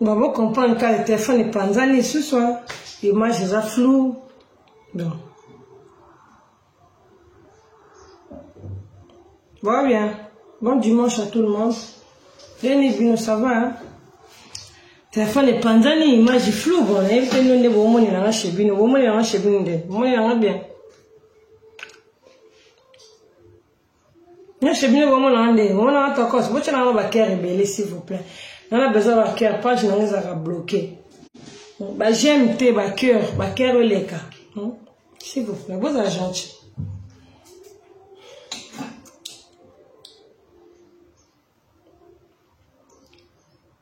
babo comprendre kaka telefone epanzani lisusu image eza flou donc va bien bon dimanche à tout le monde deni bino ça va hein? telefone epanzani image flou bon nayebi te nde bomonela nga chez bino bomonela nga chez bino nde bomonela nga bien nyonso bino bomonaka ndenge bomonaka tokos botyana ngo bacare ebele s'il vous plaît nana besoin bacare page nango ezalaka bloqué bajeme te bacœur bacare eleka hmm? s'il vous plaît bozala gentil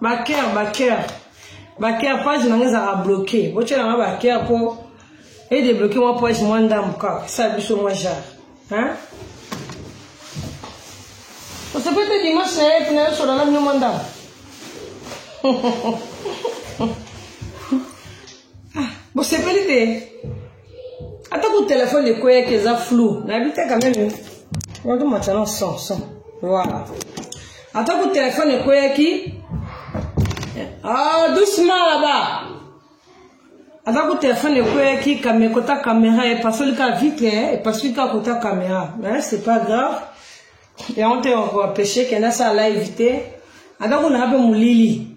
baker baker baker page na nga ezalaka bloke botyela nga baker mpo edebloke mwa page mwa ndambo kaka sa biso mwa jare osepeli te dimanche na ye tina yosola na bino mwa ndambo bosepeli te ata ku telefone ekweyaki eza flou nayebi te kameme moto matana son son voilà ata ku telefone ekweyaki ah, doucement laba ata ku telefone ekweyaki kame kota kamera epasoli ka vitre epasoli ka kota kamera mais c'est pas grave yango te okoapeche kende asala live te ata kuna ape molili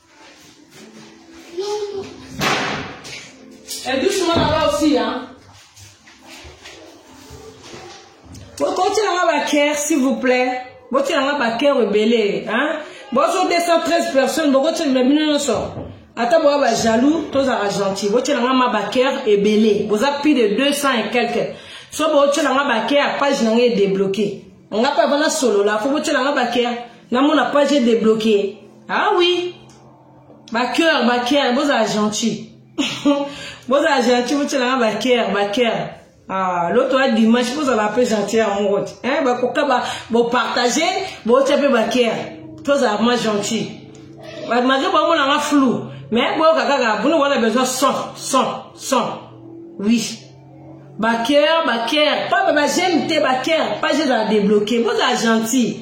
Et doucement là-bas aussi, hein. bokotielanga baker s'il vous plaît botielanga baker ebele hein? bozo 213 personnes bokotielanga bino nyonso ata boya bajaloux tozala gentil botielanga ma baker ebele boza plus de 200 et quelque so botielanga baker page na ngai edebloke nga mpe avana solola fo botielanga baker namona page edebloke ah oui bacoeur bacoeur bozala gentil bozala gentil botyelanga bacoeur bacoeur Ah, l'autre a dimanche bozala mpe gentil ya moko te eh, bakoka bopartage botya mpe baker tozala vraimen gentil malgré bamonanga flou mais boyoka kaka bino wana besoin son son son oui baker baker pas bajeme te baker pas ezala débloqué bozala gentil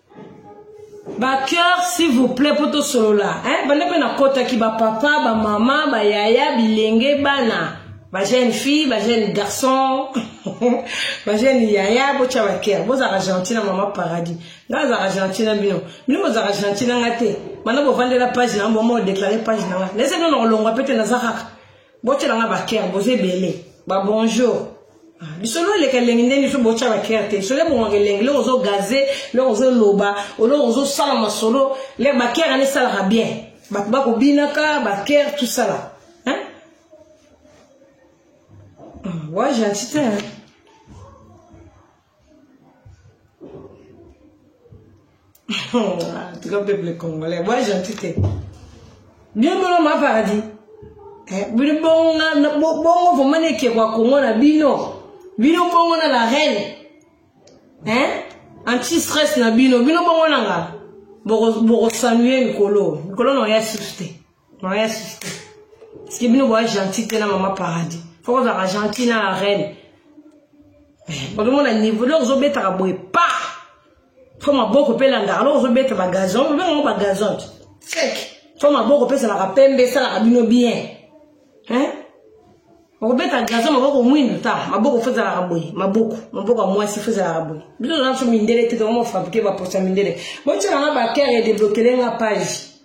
bacoeur s'il vous plaît mpo tosolola eh? banda mpe nakotaki bapapa bamama bayaya bilenge bana bajeune fille bajeune garçon bajeune yaya botya bakere bozalaka gentil na mama paradis ngai azalaka gentil na bino bino bozalaka gentil na ngai te banda bovandela page na yango boma odeklare page na ngai naesaki nona kolongwa mpe te naza kaka botyela nga bakere boza ebele babonjour ah, lisolo eleka elengi ndenge biso botya bakere te lisolo ebongaka elengi loko ozogaze loko ozoloba oloko ozosala masolo le bakere ane esalaka bien bato bakobinaka bakere tosala wa ah, gentil te en tout cas peuple congolais boa gentil te bino bino ma paradis eh, bino bongo bongo vraimen ekekwa kongo na bino bino bongo na la reine eh? anti stress na bino bino bongo na nga bokosanue mikolo mikolo na oya susu te Maman ya sista. Parce que bino boa gentil te na maman paradis. Faut qu'on soit gentil na la reine. Mais bon on a niveau là ozo beta ka boye pa. Faut ma boko pe landa. Alors ozo beta ba gazon, mais on ba gazon. Sec. Faut ma boko pe ça la pembe ça la bino bien. Hein? okobeta gazo maboko mwindu ta maboko fo ezalaka boye maboko maboko ya mwasi fo ezalaka boye biso naso mindele te tokomo fabrike baposa mindele botyelanga bakere edeblokelenga page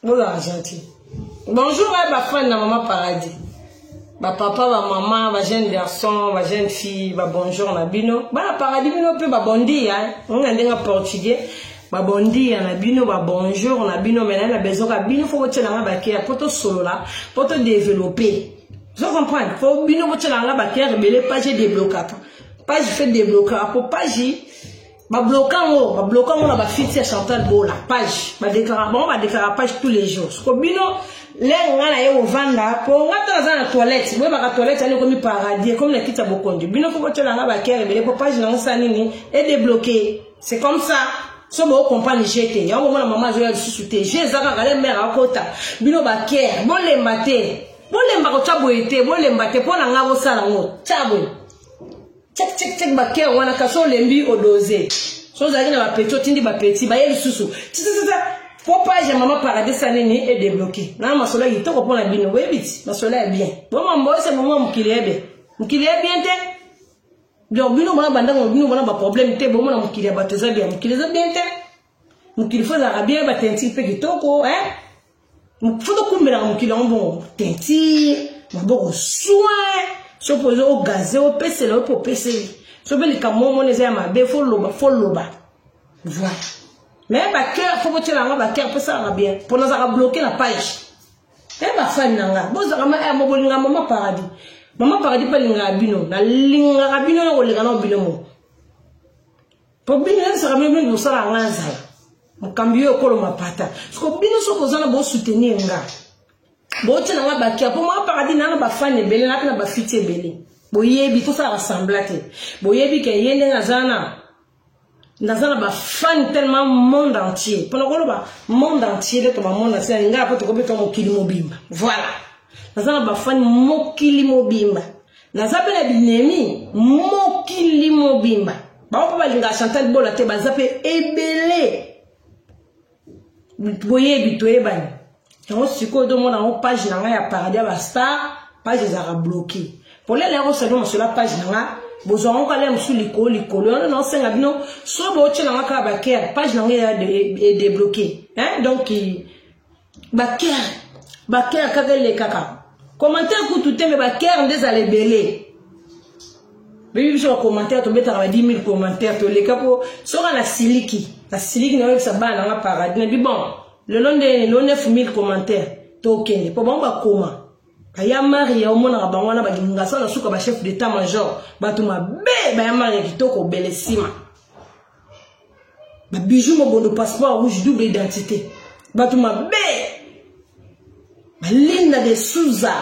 Bola Argentine. Bonjour à ba fan na maman paradis. Ba papa, ba maman, ba jeune garçon, ba jeune fille, ba bonjour na bino. Ba paradis bino pe ba bondi hein. On a ndenga portugais. Ba bondi na bino, ba bonjour na bino mais na besoin ka bino faut que na ba kia poto solo là, poto développer. Je comprends. Faut bino ko tshela nga ba kia rebelle page déblocaka. Page fait débloquer pour page babloka yango babloka yango na bafiti ya chantal bola page badeklaraka bango badeklaraka page tous les jours soko bino lenge ngai naye kovanda mpo ngai ntango aza na toilette boyebaka toilette yani ekomi paradis ekomi na kiti ya bokonzi bino fo botyela ngai bakere ebele mpo page nango sa nini edebloke c'est comme ça so bokompane je te yango omona mama azoya lisusu te je eza kaka le mare akota bino bakere bolemba te bolemba kotya boye te bolemba te mpo na ngai bosala yango tya boye Check check check ba cœur wana kasi olembi odose. So ozalaki na ba petit otindi ba petit baye lisusu. Tsitsitsa po page ya mama paradis ya nini e débloquer. Na masolo ya kitoko mpo na bino boyebi ti masolo ya bien. Bo mambo ese momo mokili ya bien. Mokili ya bien te. Donc bino mona bandako bino mona ba problème te bomona mokili ya bato eza bien mokili eza bien te mokili fo ezalaka bien batentiki mpe kitoko hein fo tokumbelaka mokili yango bongo teinture maboko soin soki mpoza ogaze opesela opo opeseli soki mpe likambo omona eza ya mabe fo loba fo loba voilà mais bacoeur fo botyela yango bacoeur mpe esalaka bien mpo nazalaka bloke na page e bafani na nga bozalaka ma eh, mobolinga mama paradis mama paradis mpe alingaka bino nalingaka bino na koleka na bino moko po bino yebisaka bino bino mosala yanga azala mokambi yo ekolo mapata soko bino soki oza na bosoutenir nga botyela nga bakia mpo mwa paradis naa na bafani ebele naa mpe na bafiti ebele boyebi tosala basembla te boyebi ke ye ndenge aza na naza na bafani tellement monde entier mpona koloba monde entier nde toba monde entier nalingaa mpo tokobetwa mokili mobimba voilà naza na bafani mokili mobimba naza mpe na binemi mokili mobimba bango mpe balingaka chantal bola te baza mpe ebele boyebi toyebani yango sikoyo tomona yango page na ngai ya paradis ya bastar page ezalaka bloke polele yako sali mosola page na ngai bozwa yango kala mosusu likolo likolo yango naosenga bino so bootye na ngai kaka bakere page na ngai edebloke donc bakere bakere kaka elekaka commentaire kutu te me bakere nde ezala ebele bebi biso bacommentaire tobetaka ba 10 000 commentaire toleka mpo soka na siliki na siliki nayoyebisa bana nanga paradis nabi bon lelo nde lelo 9 000 commentaire tokende mpo bango bakoma baya mari ya omonaka bango wana balingasa na suka bachef d'état major bato mabe baya mari ya kitoko obele nsima ba bijou mobondo passeport rouge double identité bato mabe balinda de souza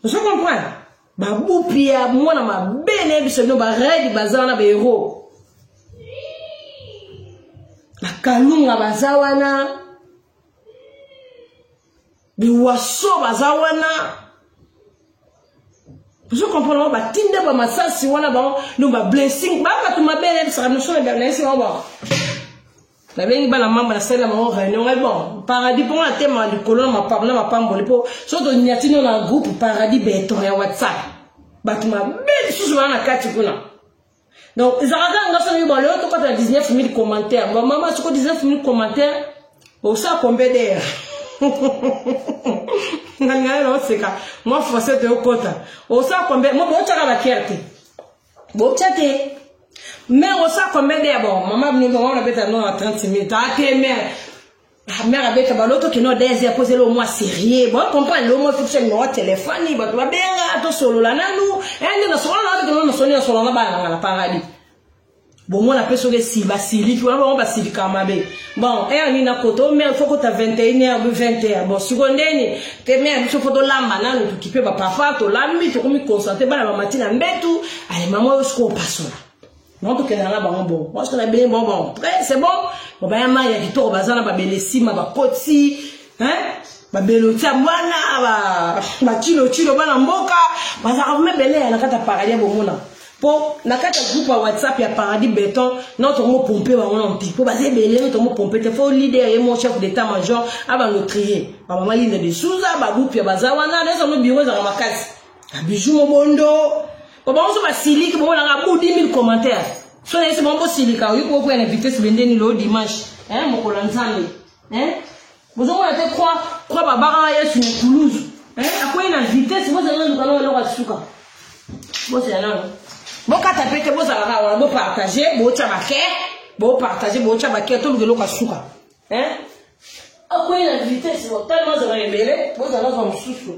ozo comprendre babupi ya mwana mabe naye biso bino baredi baza wana baero bakalunga baza wana biwaso baza wana ozo comprendre bango batinde ba masasi wana bango no ba blessing ba bato mabe yebisaka notion na bernayesi bango bango nabengi bana mama nasali na bango réunion ngai bon paradis mpo nga natema likolo na mapam na mapamboli mpo so tonyati no na groupe paradis beton ya whatsapp bato mabe lisusu bana na kati kuna donc ezalaka kaka nga soki ba lelo tokota 19000 commentaire ba mama soko 19000 commentaire osa kombe dere nalingana na oseka mwa français te okota osa kombe mo botyaka bakiere te botya te mère osa kombe dere bon mama bino bango nabeta no na 30 minutes ate mère mère abeta baloto kino deze akozela omwa serie bo comprendre lomo fiction numéro telefone bato babenga tosolola nanu ende nasolola na bato kino nasoni nasolola na bana nanga na paradis bomona mpe soki esi basiliki wana bango basilika mabe bon heure nini nakota o mare fo kota 21 heure bi 20 heure bon siko ndeni te mare biso fo tolamba nanu tokipe bapapa tolambi tokomi concentre bana bamati na mbetu ale mama oyo sikoyo opasola bango tokendaka na bango bongo mwasi na beye bongo bongo près c'est bon bon baya mai ya kitoko baza na babele nsima bakoti babeloti ya mwana bacilocilo bana mboka bazalaka vraimen beleya na kati ya paradis ya bomona mpo na kati ya groupe ya whatsapp ya paradis beton no tongo pompe bango na mpi mpo baza ebele no tongo pompe te fo leader ye mo chef d'état major abando trie bamama linde de souza babupia baza wana nayozango biro ezalaka makasi Bijou mobondo. Baba onzo basiliki bobo nanga budi 1000 commentaires. So na ese bombo silika oyo ko kwena vitesse bendeni lo dimanche. Hein mokolo nzambe. Hein? Bozo mona te croix croix babaka Yesu na Toulouse. Hein? Akwei na vitesse bozo na nduka na loka suka. Bozo na nduka. bokata mpe te bozalaka wana bopartage bootya bake bopartage bootya bake toluka eloko ya suka Hein? Akwei na vitesse bo tellement azala ebele bozala zwa mosusu.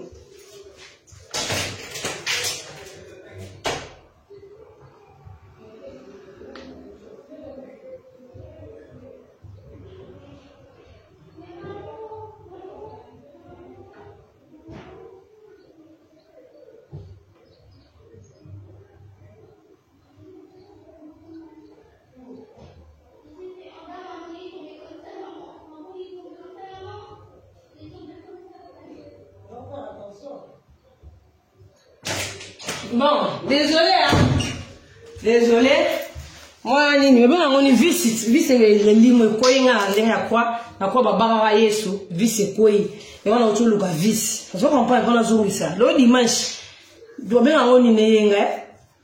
Bon, désolé hein. Désolé. Moi nini mebe nango ni visi visi elimo ekwei nga na ndenge ya kwa na kwa babakaka yesu visi ekwei yango na oto oluka visi ozo comprendre mpona azongisa lo dimanche tobenga yango nini eyenga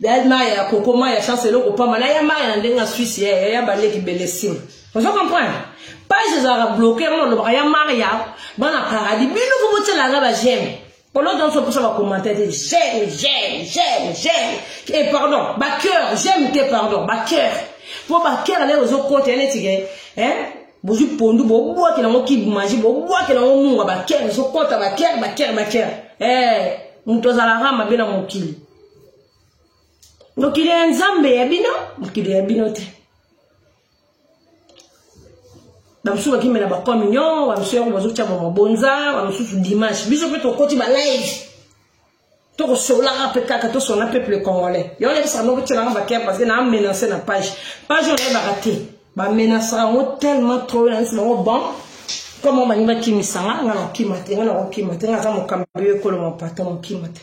Dad maya ya koko maya chance eloko pamba na ya maya na ndenge asuisi ya ya baleki belesim ozo comprendre page ezalaka bloke yango nalobaka ya maria bana paradis bino fo botyelaka ba j'aime polo nyonso mposa bakommentaire te j'aime j'aime j'aime j'aime e eh, pardon bacœur j'aime te pardon bacœur mpo bacœur lelo ozokota ya neti ke bozwi pondu bobwakela yango kibmaji bobwakela yango munga bakere ezokota bakere bakere bakere eh, moto azalaka mabe na mokili mokili ya nzambe ya bino mokili ya bino te bamosusu bakimela bacommunion bamosusu yango bazotya ba mabonza bamosusu dimanche biso mpe tokoti balive tokosolaka mpe kaka tosona peuple congolais yango nayebisaka noko tyelanga bakere parce que naa menance na page page oyo nayebaka te bamenasaka yango tellement trop nayebisi bango bon koma bangi bakimisa nga nga nakokima te nga nakokima te nga aza mokambi yo ekolo mapata mokima te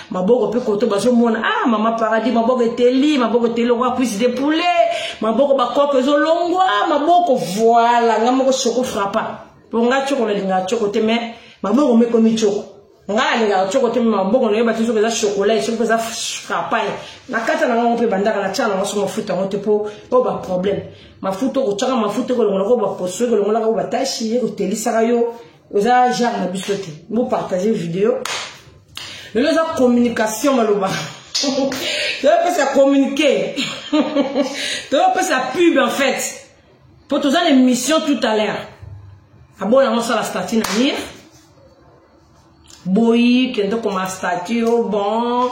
maboko mpe koto bazomona ah mama paradis maboko eteli maboko eteli lokola cuise de poulet maboko bakoko ezolongwa maboko voila nga moko soko frappa mpo nga coko nalingaka coko te mais maboko mpe ekomi coko nga nalingaka coko te mai maboko nayeba te soki eza chokola soki mpe eza frappaye na kati na ngango mpe bandaka na tia nango so mafuta yango te mpo oyo baproblème mafuta okotyaka mafuta ekolongolaka oyo baposo ekolongolaka oyo batashi ekotelisaka yo oza genre na biso te bo partage video lelo eza communication maloba tozopesa communiqué tozopesa pub en fait mpo toza na émission tout à l'heure abona yango osala stati na mire boyi kende okoma stati o oh bon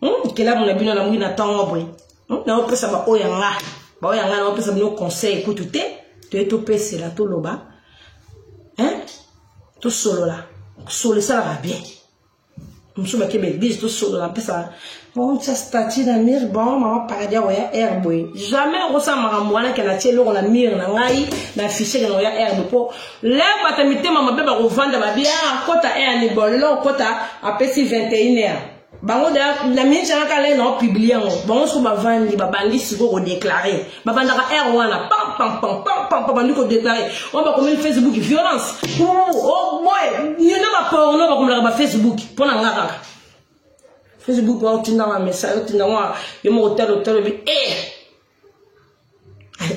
hmm, kelamu na bino namwi na ntango boye hmm, naopesa baoyo ya nga baoyo ya nga naopesa bino conseil kutu te toye topesela toloba tosolola solo esalaka bien mosusu bake baeglise tosolola mpesa otya stati na mire bon mama paradis yako ya air boye jamais okosala makambo wana ke natie eloko na mire na ngai na fichier kena oya air boye mpo lève ata mitema mabe bakovanda babia akota air libolo okota apesi 21 heure bango da na mingi anga kala ye nao publie yango bango soko bavandi babandi sikoyo kodeklare babandaka aire wana pampampampampampa bandi kodeklare oyo bakomeli facebook violence oboye yona baporno bakomelaka bafacebook mpo na nga kaka facebook wana otindaka message otindaka yo moko talo talo bi e eh!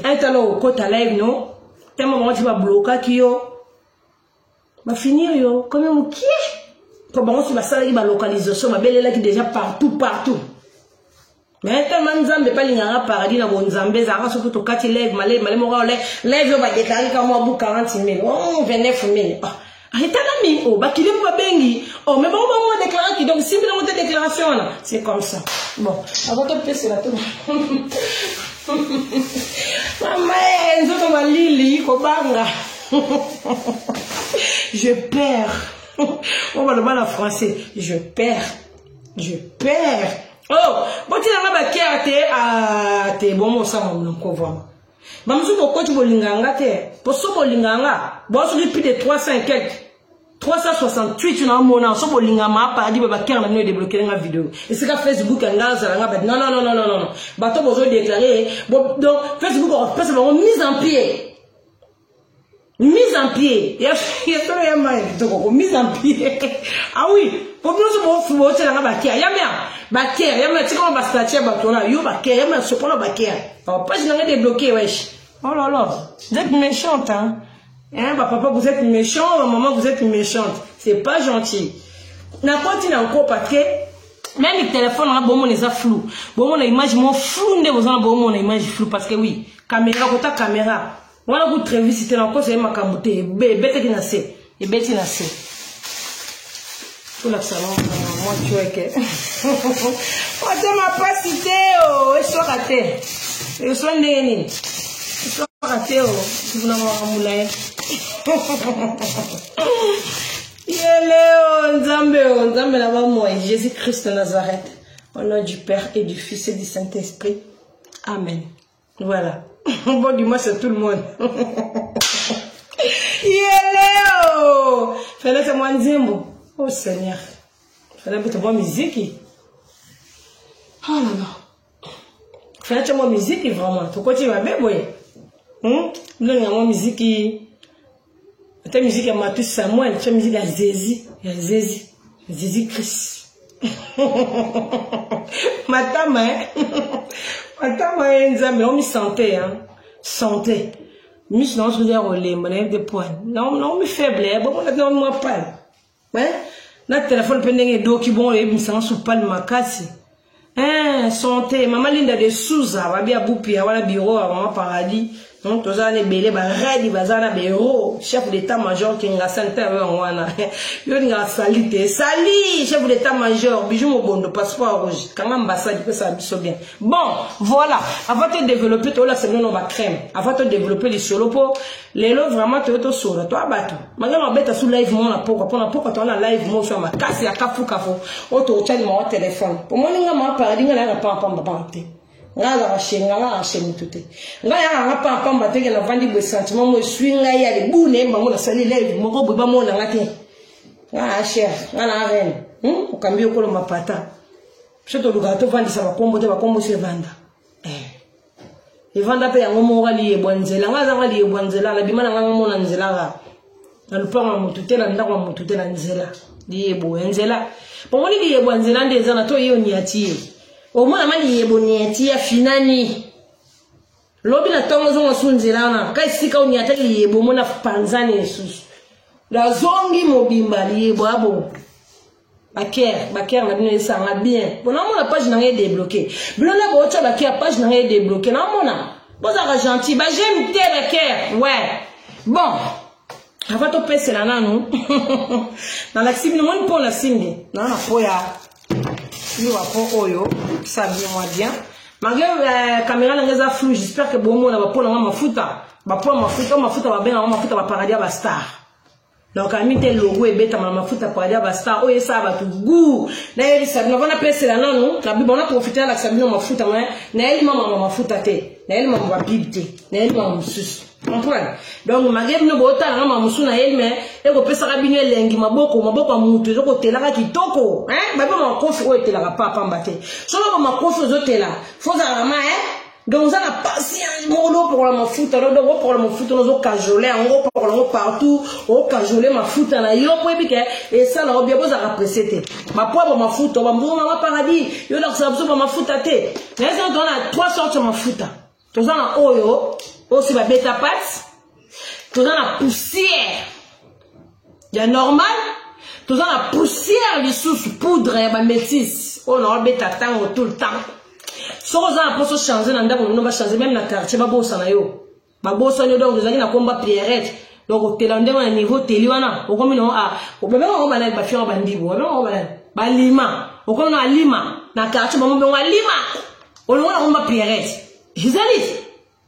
aitala okota live no tema bango ti bablokaki yo bafinir yo kome mokie mpo bango si basalaki balocalisation babelelaki déjà partout partout mais tellement nzambe epa linganga paradis na bonzambe ezalaka soki tokati leve maleve male moko leve oyo badeklare ka mwa bu 40 mille 29 mille etalami o bakili mpo babengi o me bango bango badeklaraki donc simbi nango te déclaration wana c'est comme ça bon avant topesela to mama nzoto malili kobanga je perds oyo baloba na français je perds je perds oh botina nga bakere te ah, te bomo osanga monoko vraimen bamosusu bokoti bolingaka nga te mpo so bolingaka nga bosoki plus de 300 quelque 368 na omona so bolinga ma paradis ba bakere na bino edeblokele nga video esika facebook ya nga azala nga bati nonnnn bato bozo deklare donc facebook okopesa bango mise en pied mise en pied ya solo ya mai kitoko ko mise en pied ah oui po binoso bofu botela nga bakea ya mea bakea ya mea tikama bastatue ya bato wana yo bakea ya mea sokola bakea page na nga debloqué wesh oh là là vous êtes méchante hein hein ba papa vous êtes méchant ma maman vous êtes méchante c'est pas gentil nakoti na nkopa te meme telefone nanga bomona eza flou bomona image mo flou nde boza na bomona image flou parce que oui kamera kota kamera wana ku trevisi te nakosa ye makambo te ebetaki na se ebeti na se tolakisa mwa cueke otema mpasi te o eswaka te eswa ndenge nini eswaka te o kuna makambo na ye Yeleo Nzambe o Nzambe na ba moi Jésus Christ de Nazareth au nom du Père et du Fils et du Saint-Esprit Amen voilà bon dimanche à tout le monde Yeleo fallait que moi nzembo oh Seigneur fallait que moi musique oh là là fyace mwa miziki vraiment tokoti mabe boye hmm? ndenge ya mwa miziki ata miziki ya matu samuel tya miziki ya zezi ya zezi zezi christ matama eh? matama ye eh, nzambe naomi sante hein? sante miso nango soki ya kolemba nayebi te poine naomi faible eh? bomonaki naomi mwa pale eh? na telefone mpe ndenge edoki bongo oyebi misanga supali makasi eh, sante mama linda de suza babi ya bupia wana biro ya mama paradis donc toza wana ebele baredi baza na bero chef d'état major kingasa nte yayo yango wana yo olingaka sali te sali chef d'état major bijou mobondo passeport rouge kanga ambassade epesaka biso bien bon voilà avant to développe toolakisa bino no bacrème avant to développe lisolo mpo lelo vraiment toyo tosolo toa bato malamu abeta su live moko na pokwa mpo na pokwa toa na live moso ya makasi ya kafukafo oyo totyali mawa telefone omoni nga maa paradi nga nayaka pampamba pamba te nga azaka shenga nga ashe motu te nga yaka nga pampamba te ke navandi boye sentiment mo eswi ngai ya libune bango nasali live moko boye bamona nga te nga asher nga na arene hmm? okambi okolo mapata biso tolukaka tovandisa bakombo te bakombo se vanda eh. evanda mpe yango moko aliyebwa nzela ngai azanga aliyebwa nzela nabima na ngai ngamona nzela kaka na lupango ya motu te na ndako ya motu te na nzela liyebo ya nzela bomoni liyebo ya nzela nde eza na to yeyo niati ye omona ma liyebo niati ya finani lobi na ntongo ozonga su nzela wana ka esika oniata liyebo omona panzani esusu nazongi mobimba liyebo abo baker baker na bino esanga bien mpo namona page na ngai edebloke bino nde bootya baker page na ngai edebloke namona bozalaka gentil bajeme te baker we bon ava topesela nanu nalakisi bino moni mpo nasimbi naa na mpo ya liwa mpo oyo sa bien mwa bien malgré euh, caméra na ngai eza flou j'espère ke bomona bapona mwa mafuta bapona mafuta mafuta babenga mwa mafuta baparadis ya bastar donc ami te logo ebetama na mafuta pwadi ya bastar oyo esala bato gu nayebisa bino vana pesela nanu nabiba na profite nalakisa bino mafuta ma nayeli mamama mafuta te nayeli mama babibe te nayeli mama mosusu comprendre donc mage bino bootala na mama mosusu nayeli me ekopesaka bino elengi maboko maboko ya motu ezokotelaka kitoko babima makofi oyo etelaka papamba te soki bamakofi ozotela fozalaka ma donc oza na pasi ya moko lopokola mafuta no donc opokola mafuta no ozokajole yango opokola yango partout okajole mafuta na yo mpo yebi ke esala yo bia bozalaka presse te bapwabo mafuta bambuma ma paradis yo lakosala biso bamafuta te naye soko toza na trois sorte ya mafuta toza na oyo oyo si babeta pate toza na poussière ya normal toza na poussière lisusu poudre ya bamétise oyo naobeta ntango tout le temps soki oza na mposo change na ndako nino bachange meme na quartier babosana yo babosani yo donc ozalaki na komba pierrette donc otela ndenge na niveau teli wana okomi nango ah, obabengaka ngo banani bafiaka bandibu obabengaka ngo banani balima okomi na alima na quartier bango bengo alima olongo na komba pierrette ezali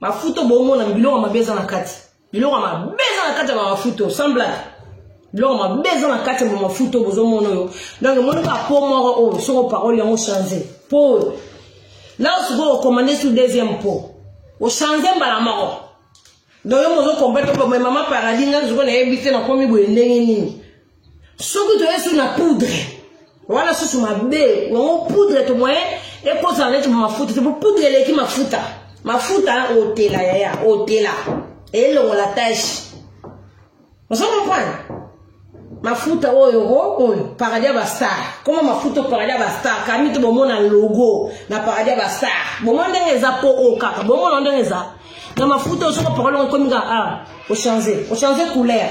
mafuto bomona biloko mabe eza na kati biloko mabe eza na kati ya bamafuto sans blague biloko mabe eza na kati ya bamafuto bozomona oyo donc emoni kaka po moko oyo soko parole yango change po oyo la osikoyo okomande su deuxième po ochange mbala moko donc yo mozokomprendre po mama paradis ngai sikoyo nayebi te nakomi boye ndenge nini soki toye su na poudre wana susu mabe yango poudre to moyen ekozala neti mafuta te po poudre eleki mafuta mafuta otela yaya otela elongola tache ozo comprendre mafuta oyo oh, oyo paradis ya bastar koma mafuta oyo paradis ya bastar kami te bomona logo na paradis ya bastar bomona ndenge eza po o oh, kaka bomona ndenge eza na mafuta oyo soki parole okomi kaka ah, ochange ochange couleur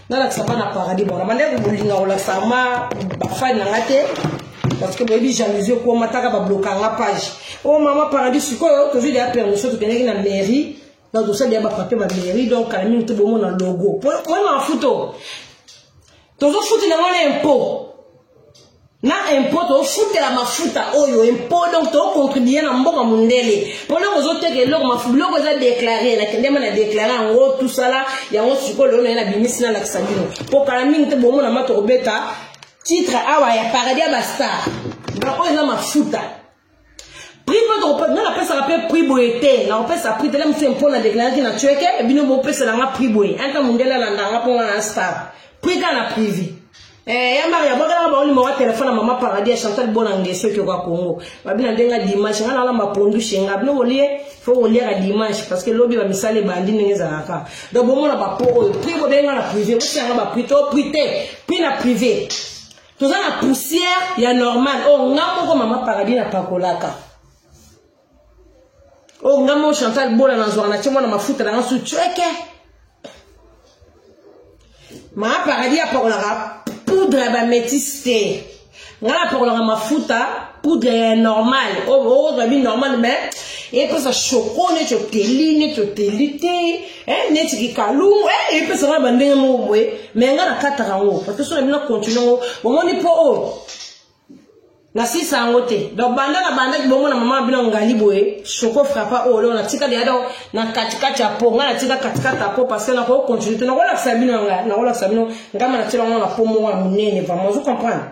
nalakisa nga na paradis bona bandeko bolinga kolakisa ma bafani na nga te parce que boyebi jalousie ekoma taka babloka nga page o oh, mama paradis sikoyo tozwi deya permission tokendaki na mairie donc tosali ya bafrape ba mairie donc kala mingi te bomona logo po oyo mafuto tozofutela ngo na impôt na impôt tofutela mafuta oyo impôt donc tocontribue na mboka mondele mpona kozoteka eloko biloko eza deklare nakendema na deklare yango tusala yango sikoyo lelo naye nabimisi nalakisa bino mpo kala mingi te bomona ma tokobeta titre awa ya paradis ya bastar donc oyo eza mafuta prix mpe tokopesa nga napesaka mpe prix boye te nakopesa prix tele mosu mpo na deklaraki na tueke bino bopesela nga prix boye anta mondele alanda nga mpo nga na star prix kaka na privé Eh, ya maria bwakelaka bango limoko ya telefone ya mama paradis ya chantal bona ngeso ekioka congo babina nde nga dimanche nga nalamba pondu shenga bino kolie fo koliaka dimanche parce que lobi bamisala ebandi ndenge ezalaka donc bomona bapo oyo prix bobenga na privé bosianga baprix to prix te prix na privé toza na poussière ya normal oyo oh, nga moko mama paradis napakolaka oyo oh, nga moko chantal bola nazwaka na tie mwana mafuta na nga su cweke mama paradis apakolaka poudre ya bametise te nga napakolaka mafuta poudre ya normal oyo oh, okozwa bi normal mais epesa shoko neti oteli neti oteli te eh neti kikalungu eh epesa ngai bandenge moko boye me ngai nakataka yango parce so na bino continue yango bomoni mpo oyo oh, nasisa yango te donc banda na bandaki bomona mama na bino ngali boye soko frapa oyo oh, leo natika deya donc na katikati ya po ngai natika katikati ya po parce que nakoki continue te nakolakisa bino yangai nakolakisa bino ngai ma natyela yango na po moko ya monene vraiment ozo comprendre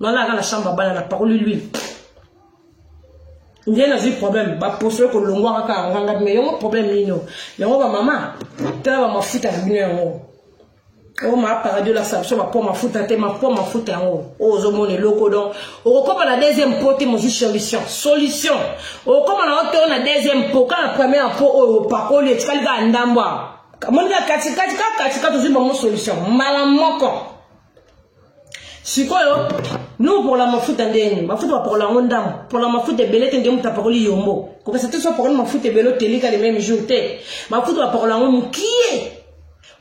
nana aka na chambre abala na pakoli l'huile nde nazwi problème baposo ekolongwa kaka yanganga me yango problème nini oyo yango bamama tala bamafuta na bino yango oyo maaparadi olakisa biso mapo mafuta te mapo mafuta yango oyo ozomona eloko don okokoma na deuxième po te mozwi solution solution okokoma na oto na deuxième po kaka na première po oyo opakoli etikali kaka ndambo awa moninga katikati kaka katikati ozwi bango solution mbala moko sikoyo nous pour la mafuta ndeni mafuta bapokola yango ndambo pour la mafuta ebele te nde moto apakoli yombo kokesa te so apakoli mafuta ebele otelika le même jour te mafuta bapokola yango mokie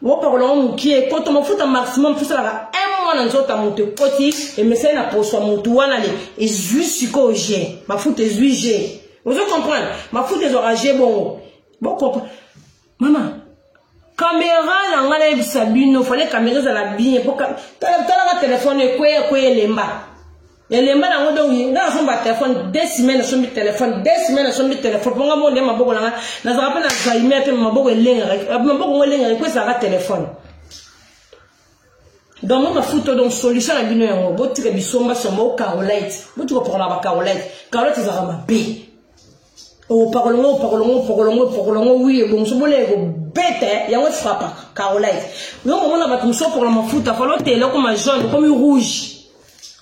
opakola yango mokie koto mafuta maximum tosalaka un mois na nzoto ya moto ekoti emesani na poso ya moto wana le ezwi sikoyo je mafuta ezwi je ozo comprendre mafuta ezwaka je bongo bokopa mama kamera na ngai nayebisa bino fale kamera ezala bien po talaka telefone ekweya ekweya elemba elemba nango donc ngai nasomba telefone de semaine asombi telefone de semaine asombi telefone mpo ngai moko nde maboko na ngai nazalaka mpe na zaime mpe maboko elengaka maboko ngo elengaka ekwesaka telefone donc mafuta donc solution na bino yango botika bisomba somba o carolite botika opakola ba carolite carolite ezalaka mabe opakola ngo opakola ngo opakola ngo opakola ngo wi ebongiso bola ekobeta yango efrapaka carolite yo komona bato mosusu opakola mafuta fala otela okoma jaune okomi rouge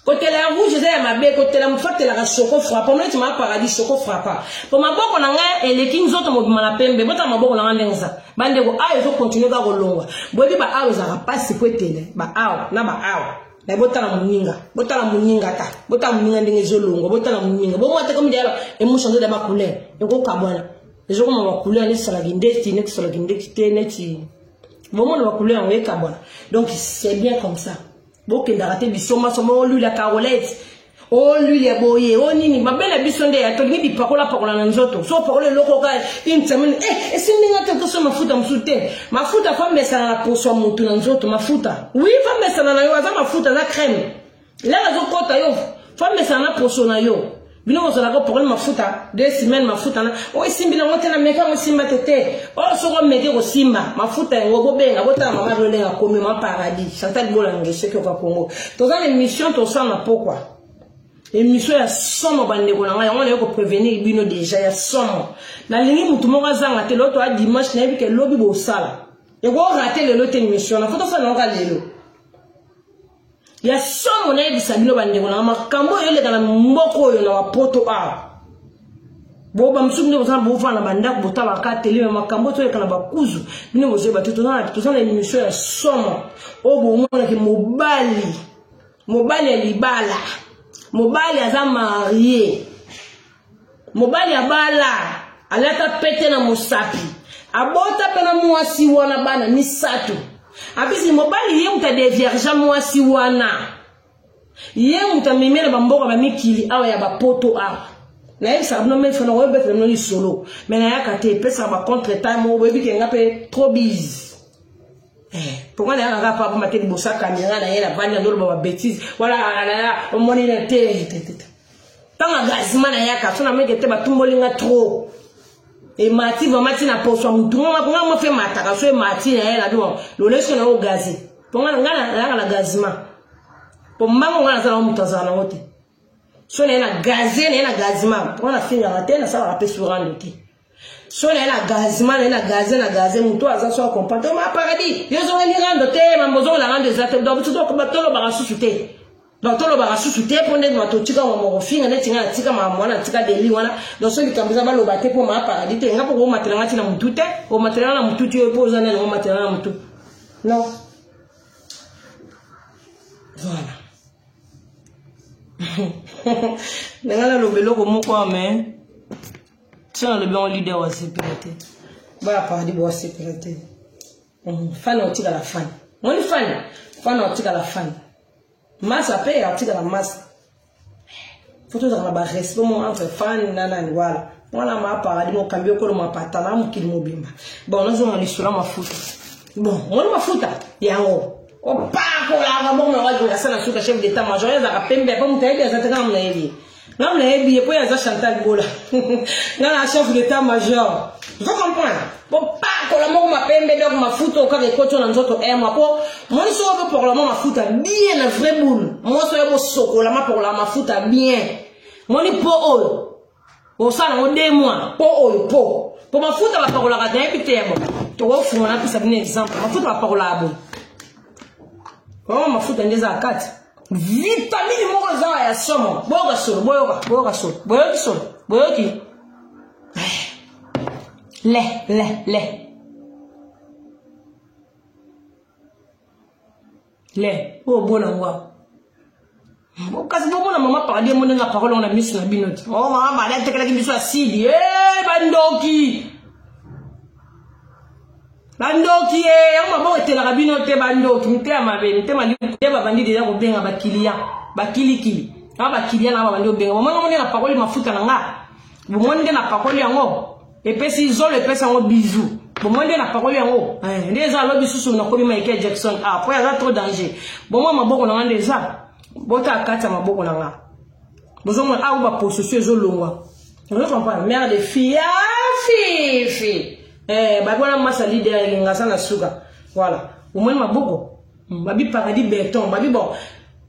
kotela ya rouge eza ya mabe kotela motu fatelaka soko frapa omoni tima paradis soko frapa mpo maboko na ngai eleki nzoto mobima na pembe botala maboko na ngai ndenge eza bandeko awa ezokontinue kaka kolongwa boyebi baawa ezalaka mpasi mpo etele baawa na baawa me botala moninga botala moninga ta botala moninga ndenge ezolongwa botala moninga bomwa te komi deyaba emusha nzoto ya bacouleur ekokabwana ezokoma bacouleur neti salaki ndeti neti salaki ndeti te neti bomona bacouleur yango ekabwana donc c'est bien comme ça bokendaka te bisombasomba o lwile ya carolete o lwile ya boye o nini mabe na biso nde tolingi bipakolapakola na nzoto so opakola eloko ka une semaine e eh, esimbi nga te okoso mafuta mosusu te mafuta famesana na poso ya motu na nzoto mafuta wi famesana na yo aza mafuta aza crème lelo azokota yo famesana na poso na yo bino bozalaka problème mafuta deux semaines mafuta na oyo esimbi nango te na meka yango esimba te te oyo soki omeke kosimba mafuta yango bobenga botala mama bino ndenge akomi ma paradis chantal bolange soki oka kongo toza na émission tosala na pokwa émission ya somo bandeko na ngai yango naye koprevenir bino deja ya somo nalingi motu moko azanga te loto a dimanche nayebi ke lobi bosala ekorate lelo te émission na fo tosala nango ka lelo ya somo nayebisa bino bandeko nanga makambo oyo eleka na mboka oyo na bapoto awa bo bamosusu bino bozana bovanda na bandako botalaka ka teleme makambo toyeka na bakuzu bino bozoyeba te toza na émission ya somo oyo bomonaki mobali mobali ya libala mobali aza marie mobali abala alata pete na mosapi abota mpe na mwasi wana bana misato apesi mobali ye moto adeviergea mwasi wana ye moto amemela bamboka bamikili awa ya bapoto awa nayebisaka bino mefo na koyebetela bino lisolo me nayaka te epesaka bacontre time moko boyebi ke nga mpe trop bise mponga eh, na yanga kaka papa mate liboso ya kamera na ye na bandi andoloba babetise wala alala omoni na te ntango agazima na yaka so nameke te batumboli nga trop emati vraimen ti na poso ya motu nga mo fe mataka so emati na ye na bino lolesiko na yo gaze mpo nga nayaka na gazima mpo mbango nga nazala moto azala nango te so na ye na gaze na ye na gazima mpo nga nafingaka te nasalaka mpe surando te so na ye na gazima na ye na gaze na gaze motu aza so acomprendre to ma paradis yo ozongeli rando te mambo ozongela rando eza te donc biso tolobaka susu te donc tolobaka susu te mpo ndenge bato otika mwa mokofinga neti ngai natika mwa mwana natika deli wana donc so likambo eza baloba te mpo maa paradis te nga mpo komatela nga ti na motu te omatela nga na motu ti oyo mpo oza nani omatela nga na motu non voilà ndenge naloba eloko moko ame so nalobi yango leader wa sepela te boya paradi bowa sepela te mhm. fani otikala fani moni fani fani otikala fani masa mpe atikala masa fo tozalaka na barespect mo entre fani na nani wala wana ma paradi mokambi okolo mapatala mokili mobimba bon nazonga lisolo ya mafuta bon moni mafuta yango opakolaka bongo na wajonga asala suka chef d'état major ezalaka pembe mpo moto ayebi aza te kaka monayebi nga nayebi ye mpo ye aza chantal bola nga na chef d'état major ozo comprendre bopakola moko mapembe donc mafuta okaka ekoti na nzoto emwa mpo mwani soko bopakolama mafuta bien na vrai boule mwasi oyo bosokolama pakolama mafuta bien mwani mpo oyo osala yango de mwa mpo oyo mpo mpo mafuta bapakolaka nayebi te yabo tokofunga napesa bino exemple mafuta bapakolaka boye oyo mafuta nde eza kati vitamini moko eza wa ya somo boyoka solo boyoka boyoka solo boyoki solo boyoki le le le le oyo bona ngo kasi bomona mama paradi emoni nga parole na miso na bino te o oh, mama paradi atekelaki biso asidi e eh, bandoki bandoki ye eh, yango maboko etelaka bino te bandoki mitema mabe mitema nde babandi deja kobenga bakiliya bakilikili na bakiliya na babandi kobenga bomoni yango nde na pakoli mafuta na nga bomoni nde na pakoli yango epesi zolo epesi yango bizu bomoni nde na pakoli yango eh, nde eza alobi susu nakomi michael jackson ah, po aza trop danger bomwa maboko na nga nde eza bota akati ya maboko na nga bozomona awa baposesio ezolongwa ozo comprendre mare de fille ya ah, fifi eh ba bona masa leader elinga sana suka voilà omoni maboko hmm, babi paradis beton babi bon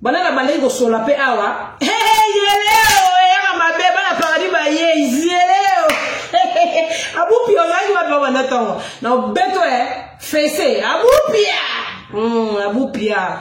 bana na bandaki kosola mpe awa yeleo eyaka mabe bana paradis baye yeleo abupi ozalaki wapi babanda ntongo na obeto e eh, fese abupia hmm, abupia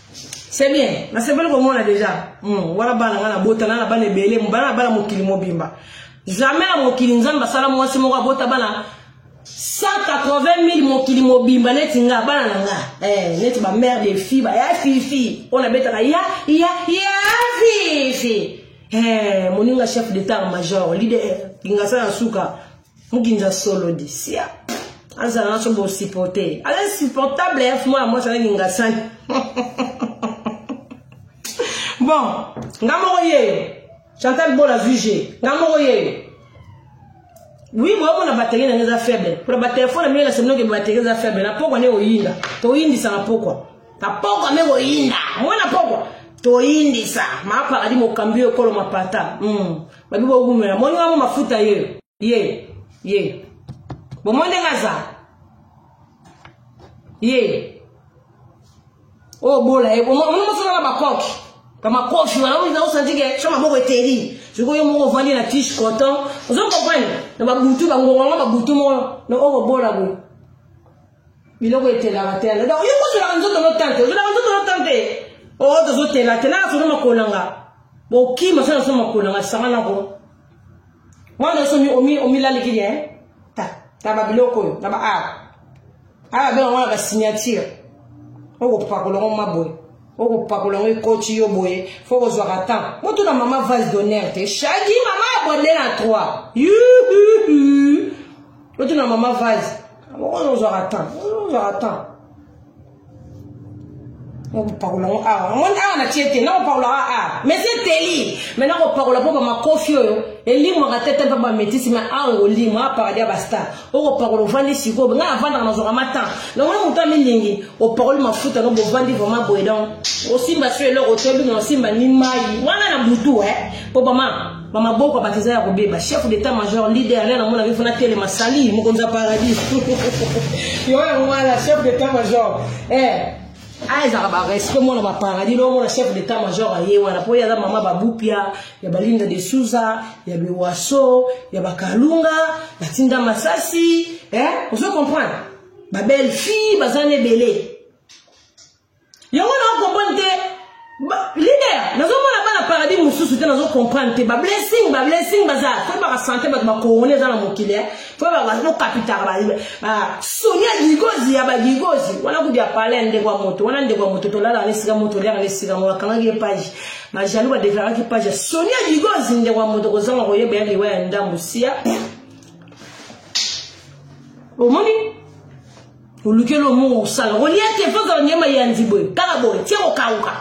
c'est bien nasepeli komona déjà hmm, wana bana nga nabota na na bana ebele bana na bana mokili mobimba jamais na mokili nzambe asala mwasi moko abota bana 180 000 mokili mobimba neti nga bana na nga eh, neti bamare de fille baya fifi oyo nabetaka ya ya ya fifi eh, moninga chef d'état major leader kingasala na suka mukinza solo di sia azala naso bosupporte ye aza insupportable ya mwana mwasi azangi ngasani bon nga moko yeyo chantal bola vuge nga moko yeyo wi boyomona bateri na ngai eza faible mpona batelefone na mino na seminoke bateri eza faible na pokwa nde koyinda toyindisa na pokwa na pokwa nde koyinda mwana pokwa toyindisa maapakadi mokambi oyo ekolo mapata mm. babi bowumela moni wango mafuta ye ye ye bomoni ndenge aza ye oyo oh, bola ye omoni mosala na bakoki bamakoki wana osanti ke so maboko eteli sikoyo yo moko ovandi na tiche coton ozo comprendre na babutu bangongo yango babutu moko na oyo oh, bola boye biloko etelaka te alobi yo kozolaka nzoto no tante ozolaka nzoto no tante o oh, tozotela te naka sono makolanga bokima sona so makolanga sanga nako wana so omilaliki ye eh? ta ta ba biloko oyo na ba art aya benga wana ba signature okopakola ngo maboye okopakola ngo ekoti yo boye fo kozwaka temps botuna mama vase d'honneur te shagi mama abonde na 3 botuna mama vase oyo ozwaka temps oyo ozwaka temps nakopakola ngo awa omoni awa natie te nakopakolaka awa mais eteli mai nakopakola mpo bamakofi oyo elimwaka te te mpe bametisi mai awa ngolimo apakadi ya bastar okopakola ovandi sikoyo ngai navandaka nazwaka matan namoni moto amilingi opakoli mafuta no bovandi vraimen boye donc osimba so eloko te obino osimba ni mai wana na butu e eh, mpo bama ba maboko bato eza ya kobeba chef d'état major leader nde namonaki fona telema sali mokonzi ya paradis yo yango wana chef d'état major eh azalaka barespect mwana baparadis loo mwana chef d'état major aye wana mpo ye aza mama babupia ya balinda de suza ya biwaso ya bakalunga batinda masasi eh? ozo comprendre babelle fille baza na ebele yango na comprendre te leader nazomona bana paradis mosusu te nazo comprendre te bablessing bablessing baza fo ebaka sante bato bakorone eza na mokili eh. fo ebakokapitaka soni ya gigozi ya bagigozi wana kudi ya pale ya ndeko ya moto wana ndeko ya moto tolalaka na esika moto oliaka na esika moto akangaki epage bajaloux badeklaraki page soni ya gigozi ndeko ya moto kozanga koyeba ya liwa ya ndambo sia omoni oluki eloko moko osala olia te mpo ozala nyama ya nzibwe kaka boye tie kokauka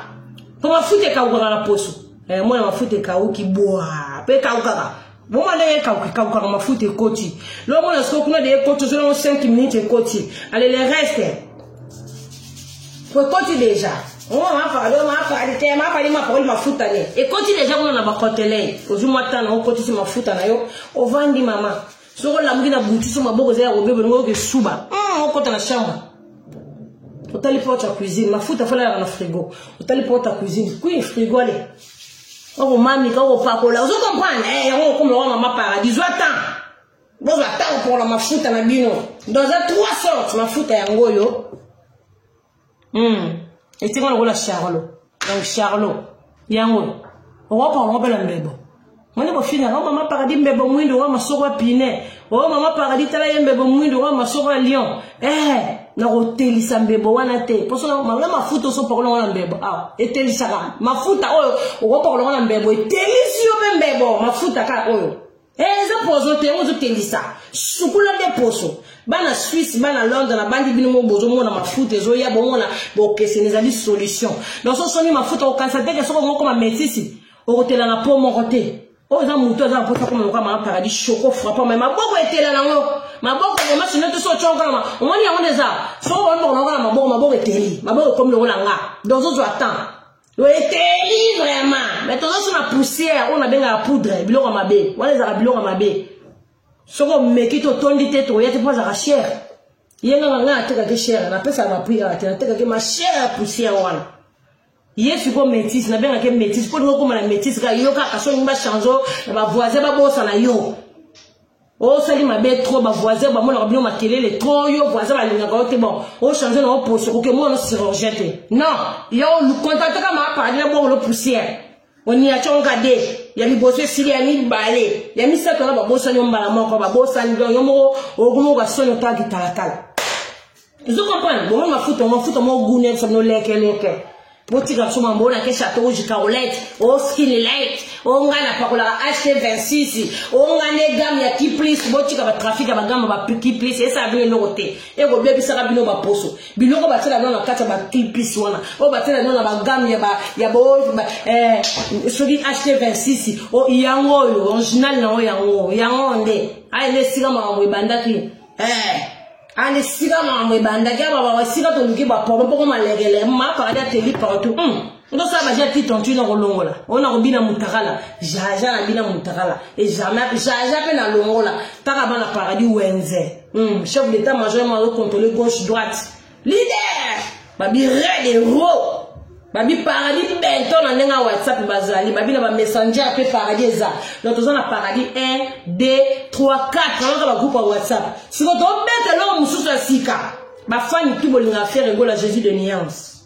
mpo mafuta ekaukaka na poso eh, mwana mafuta ekauki bwa mpe ekaukaka boma ndenge ekauka ekaukaka mafuta ekoti lomona soko kuna de ekoti ozonango 5 minute ekoti ale le reste po ekoti deja mapakali mapakoli mafuta ne ekoti deja kuna na bakotelei ozwi mwa tana okotisi mafuta na yo ovandi mama soko olamuki na butu so maboko eza ya kobeba olingi oyoka esuba hmm, okota na chambre otali porte ya cuisine mafuta afalalaka na frigo otali porte ya cuisine kui frigo ale okomamika okopakola ozo comprendre eh, yango okomela wa mama paradis zwa temps bozwa ntango mpokola mafuta na bino donc eza trois sorte mafuta yango oyo hmm. etinga lokola charlo donc charlo yango okokoka kobela mbebo moni bofinga o oh, mama paradis mbebo mwindo wa masoko ya pine o oh, mama paradis tala ye mbebo mwindo wa masoko ya lion eh nakotelisa mbebo wana te mpo soki na mafuta osopakola yango na mbebo awa ah, etelisaka mafuta oyo okopakola yango na mbebo etelisi yo mpe mbebo mafuta kaka oyo Eh, eza poison te ozo kendisa sukula nde poso bana suisse bana londre na bandi bino mo bozomona mafuta ezoya bomona bokeseni ezali solution donc so soni mafuta okanisa teke soko moko mametisi okotela na po moko te oyo eza motu aza na mposa koma lokola mama paradis shoko frappa mai maboko etela nango maboko mama sino te so otya nkana omoni yango nde eza soko baomi bakonakona maboko maboko eteli maboko ekomi lokola nga donc zozwa temps eteli vraiment mais toza so na poussière oyo nabengaka poudre biloko ya mabe wana ezalaka biloko ya mabe soki omeki te otondi te tokoya te mpo azalaka chere ye nganga ngai atekaki chere napesaka bapri kaka te natekaki ma chere ya poussière wana ye sikoyo métise nabengaki métise mpo lingi okoma na métise kaka yo kaka soki bachange na bavoisin babosana yo osali mabe trop ba voisin bamonaka bino makelele trop yo voisin balingaka yo te bon ochange nango poso okoki omona chirurgien te non yo contactaka maapadi na bongolo poussière oniaconga de ya liboso esili ya mibale ya misato wana babosani yo mbala moko babosani don yo moko okomoka soni otaa kitalakala ozo comprendre bongo mafuta mafuta mo gune sa no leke leke botika biso mambo oyo nake chateau rouge carolette o oh, skin light o oh, ngai napakolaka ht 26 o oh, ngai nde game ya kiplis botika batrafic ya bagame ba kiplis esala bino eloko te ekobebisaka bino baposo biloko batiela bino na kati ya bakiplis wana oyo batiela bino na bagame ya bo eh, soki ht 26 yango oyo original na yango yango yango nde aye nde esika makambo ebandaki eh. ale sika makambo ebandaki aba bawa sika toluki bapolo mpoko malekele mapakadi ateli partout hmm. ndosala baje ya titre ntui nakolongola oyo nakobina mutakala jaja nabina mutakala ejamai jaja mpe nalongola kaka bana paradis wenze hmm. chef d'état major mazokontrole gauche droite leader babi red hero babi paradis bento na ndenge ya whatsapp bazali babi na bamessanger mpe paradis eza donc toza na paradis 1 2 3 4 alaka bagroupe ya whatsapp siko tobeta eloko mosusu ya sika bafani tu bolinga affaire egola jésus de nuance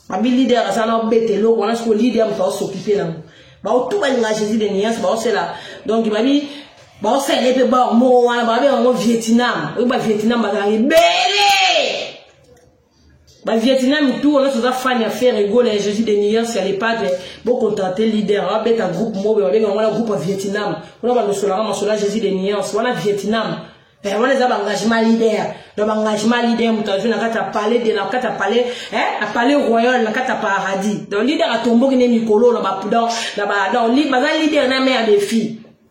babi leader aza na obeta eloko wana siko leader moto aosokipe nango baotu balinga jésus de nuance baosela donc babi baosela ye mpe baor moko wana babi yango vietnam oyo bavietnam bazalaka ebele ba vietnam tout wana toza fan ya ferre egola ya jésus de millions ya lepadre bocontracte leader abeta groupe mobe babenga wana groupe ya vietnam kuna balosolaka masolo ya jésus de millions wana vietnam eh, wana eza baengagement leader na baengagement leader moto azwi na kati ya palais de na kati ya palais eh, na palais royal na kati ya paradis donc leader atomboki nde mikolo na bapudan na ba donc baza leader na me ya defi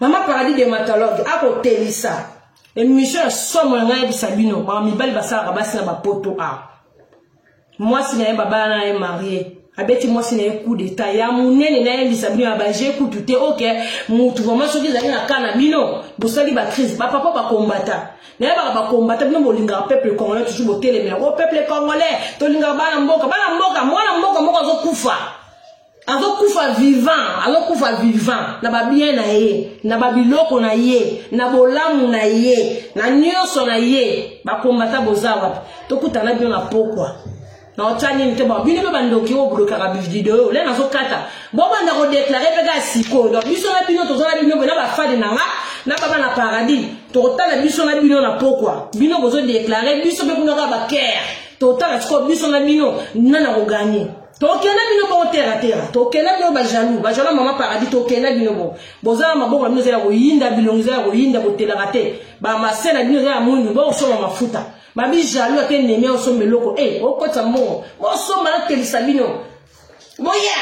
mama paradis dermatologue akotelisa emission ya somo ya ngai yebisa bino mawa mibali basalaka basi na bapoto a ah. mwasi na ye babala na ye marie abeti mwasi na ye coup d'etat ya monene nayebisa bino ya baje kutu te oke motu vraimen soki ezali na ka na bino bosali bacrise bapapa bakombata nayebaka bakombata bino bolingaka peuple congolais toujours botelemela o oh, peuple congolais tolingaka bana mboka bana mboka mwana mboka moko azokufa azokufa vivant azokufa vivant na babien na ye na babiloko na ye na bolamu na ye na nyonso na ye bakombata boza wapi tokutana bino na pokwa na otya nini te bon bino mpe bandoki oyo bolokaka bivideo oyo le nazokata bobanda kodeklare mpe kaka sikoyo donc biso na bino toza na bino mpe na bafadi na nga na baba na paradis tokotala biso na bino na pokwa bino bozodeklare biso mpe kuna kaka bakere totala sikoyo biso na bino nani akoganye tokenda bino bongo tera tera tokenda bino bajalou bajalou ya mama paradis tokenda bino bongo boza na maboko na bino eza ya koyinda bilongi eza ya koyinda botelaka te bamase na bino eza ya mwindu bokosomba mafuta babi jalou ate nemi osomba eloko e eh, okotisa mbongo bosomba natelisa bino boya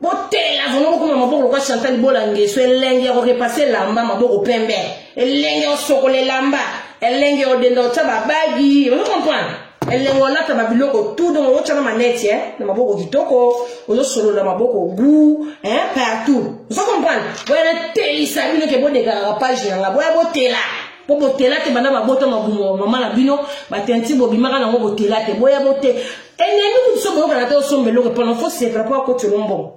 botela vraimen bokoma maboko lokola chantal bola ngeso elenge ya korepase elamba maboko pembe elenge osokola elamba elenge odenda otya babagi ozo comprendre elengo alata ba biloko tout donc ootya na maneti eh? na maboko kitoko ozosolola maboko gout eh? partout ozo comprendre boya natelisa bino ke bodekaka page na nga boya botela mpo botela te banda babota mabumo mama na bino batenti bobimaka nango botela te boya bote enemi kutu so boyokana te osomba eloko epona fo sepela mpo akoti olombongo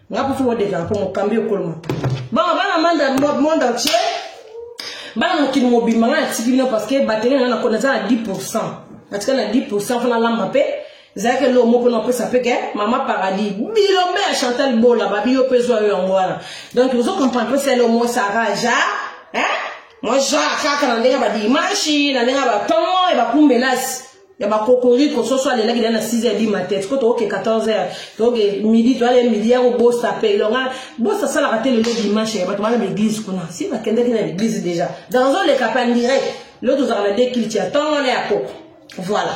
nga kutu odekaka mpo mokambi ekolo mapa bango bana manda monde entier bana mokili mobimba nga natiki bino parce que batenge na nga nakona eza na 10 pourcent natika na 10 pourcent fana lamba mpe ezalaki eloko moko na opesa mpe ke mama paradis bilombe ya chantal bola babi yo mpe ezwa yo yango wana donc ozo comprendre mpe selo mo saraja hein moi genre kaka na ndenge badimashi na ndenge batongo e bakumbelasi ya ba kokoriko soso alelaki na 6 heures du matin siko tokoke 14 heures tokoke midi toyale midi ya kobosa mpe elonga bosa asalaka te lelo dimanche ya bato bana na église kuna si bakendaki na église déjà dans oleka mpe en direct lelo tozalaka na dekiliti ya ntongo wana ya koko voilà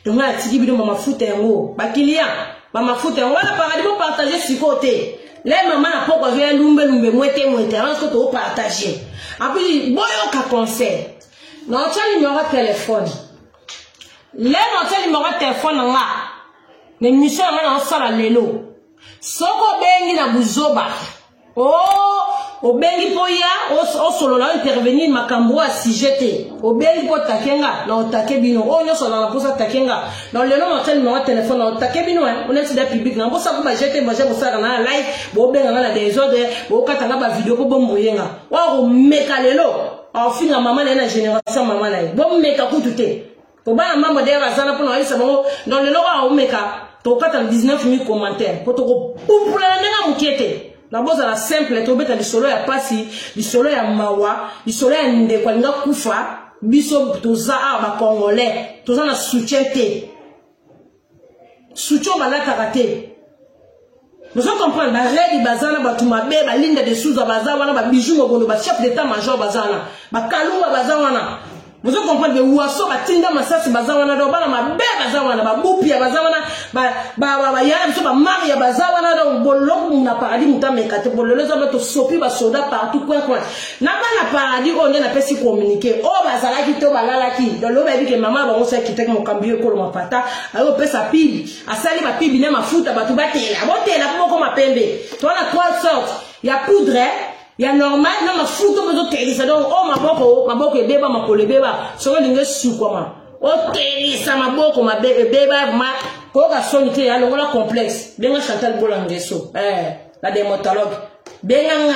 donc ngai atiki bino bamafuta yango bakiliya bamafuta yango wana paradi bopartage sikoyo te le mama na poko azoya lumbelumbe mwete mwete avant siko tokopartage apui boyoka conseil na otya nimero ya telefone le na otya nimero ya telefone na nga na emission na nga na osala lelo soki obengi na buzoba o oh, obengi mpo ya osolola ointervenir makambo oyo asije te obengi mpo otake nga na otake bino oyo nyonso azala mposa atake nga na lelo na otya nimero ya telefone na otake bino eh, oneti da publike na mposa ko bajete baje kosalaka na ya live bobenga nga na desordre bokata nga bavideo mpo bomboye nga wakomeka lelo aofinga mama na ye na génération mama na ye bomeka kutu te kobana mama dayere azana mpona ayebisa bango donc lelo oyo aomeka tokokata na 19 mille commentaire mpo tokopupulana ndenge ya moke te na bozala simple tobeta lisolo ya mpasi lisolo ya mawa lisolo ya ndeko alinga kufa biso toza awa bacongolais toza na soutien te sucho balataka te bozo comprendre baredi baza na bato mabe balinda de souza baza wana babiju mokolo bachef d'état major baza wana bakalumba baza wana bozo comprendre bewaso batinda masasi baza wana donc bana mabe baza wana babupia baza wana bayaya biso bamaria baza wana donc boloko na paradis moto ameka te bolelo eza ba tosopi basoda partout coin coin na bana paradis oyo nde napesi communiqué oyo bazalaki to balalaki lelo bayebi ke mama ya bango soki akitaki mokambi yo ekolo mapata aye kopesa pibi asali bapibi na mafuta bato batela botela po bokoma pembe to wana trois sorte ya poudre ya normal na mafuta oyo ezotelisa donc oyo oh, maboko maboko ebeba makolo ebeba soki olingi esukwama otelisa maboko mabe ebeba ma koyoka soni te ya longola complexe benga chantal bolangeso eh, la demotologue benga nga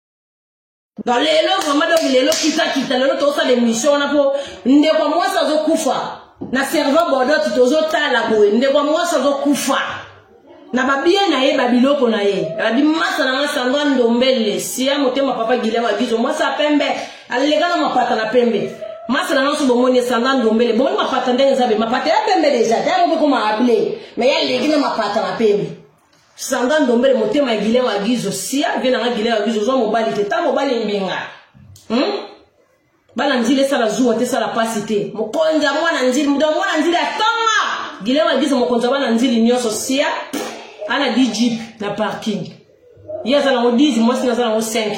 nga lelo vraiment donc lelo kitakita lelo tozosala émission wana mpo ndeko mwasi azokufa na servant bordot tozotala boye ndeko mwasi azokufa na babie na ye babiloko na ye abi masa na nga sango ya ndombele siya motema papa gilia wagizo mwasi ya pembe aleka na mapata na pembe masa na nga so bomoni esanga ndombele bomoni mapata ndenge eza be mapata ya pembe deja ta yango mpe koma able me ya leki na mapata na pembe sanga ndombele motema ya gilen wa gizo sia vie nanga gilen wa gizo ozwa mobali te ta mobali mbinga hmm? bana nzili esala zuwa te esala mpasi te mokonzi ya mwana nzili moto ya mwana nzili atonga gilen wa gizo mokonzi ya bana nzili nyonso sia ana di jeep na parking ye aza nango 10 mwasi naza nango 5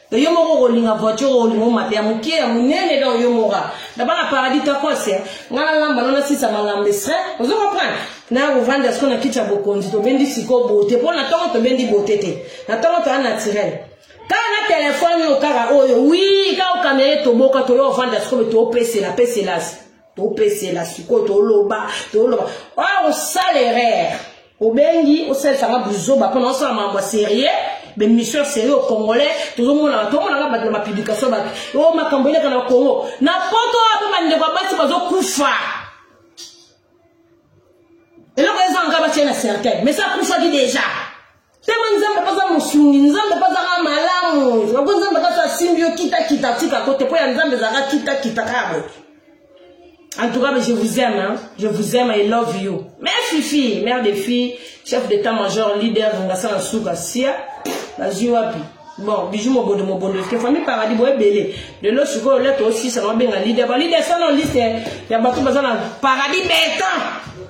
yo moko okolinga voiture olinga omata ya moke ya monene donc yo moka naba na paradis takosi ngai nalamba no nasisa malamba esre ozo comprendre na kovanda siko na kiti ya bokonzi tobendi siko bote mpo na ntongo tobendi bote te na ntongo toya naturel kaka na telefone oyo kaka oyo wi kaka okamela ye toboka toyo ovanda sikoyo toopesela peselasi topesela sikoyo toloba toloba oyo osala erreur obengi osalisanga buzoba mpo na osala makambo ya serie bemission serie o congolais tozomonaka tomonaka bato na bapublikation bato o oh, makambo eleka na congo na poto apo bandeko ya basi bazokufa eloko ezanga batye na cercueil mais akufaki deja Temo nzambe mpe aza mosungi nzambe mpe azaka malamu loko nzambe kaka asimbi yo kitakita atika kote mpo ya nzambe ezalaka kitakita kaka boye en tout cas je vous aime hein? je vous aime i love you mais fifi mère de fille chef d'état major leader ngasa na suka sia nazwi wapi bon biju mobondo mobondo eske famille paradis boye ebele lelo sikoyo lete osisa na obenga leader ba leader sana liste ya bato baza na paradis beton